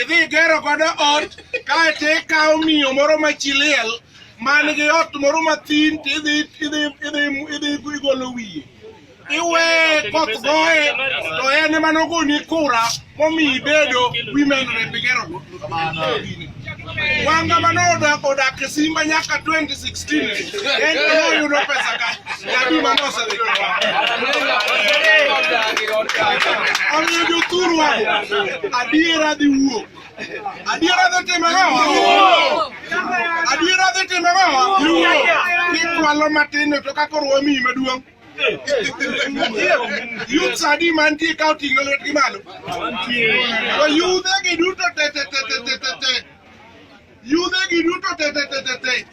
Idhi igero godo ot kae to ikawo miyo moro ma chi liel man gi ot moro mathin to idhi idhi idhi idhi igolo wiye iwe koth goye to en ema nogoni kura momiyi bedo women rep igero go wanga mano odak e simba nyaka 26 Omiyo jothuru adiera dhi wuok. Adiera dhi timo ang'o? Adiera dhi timo ang'o? Kikwalo matin to kaka koro wamiyi maduong'. Youths adi mantie ka oting'o lwetgi malo. To yudhe gi duto te te te te te te. Yudhe gi duto tetetetete.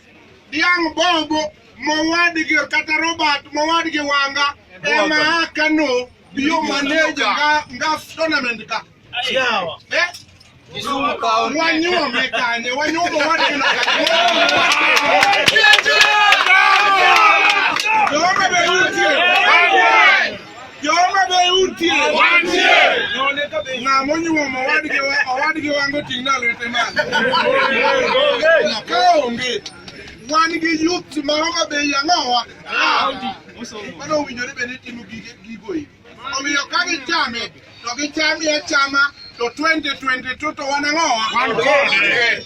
Dhiang' bobo mowadgi kata Robert mowadgi wanga ema a Kano biyo maneja nga tournament ka. Yawa. Eh? Wanyuome kanye, wanyuome wadgi no kanye. Jehova be nitie. Joma be utie. Wantie. None ka be ng'a monyuomo owadgi wa- owadgi wango ting' na lwete malo. Ka onge. Wan gi youth ma Homa Bay yang'owa. Mano owinjore bende timo gige gigo e. Omiyo ka gichame to gichame achama to 2022 to wan ang'owa. Wan kode.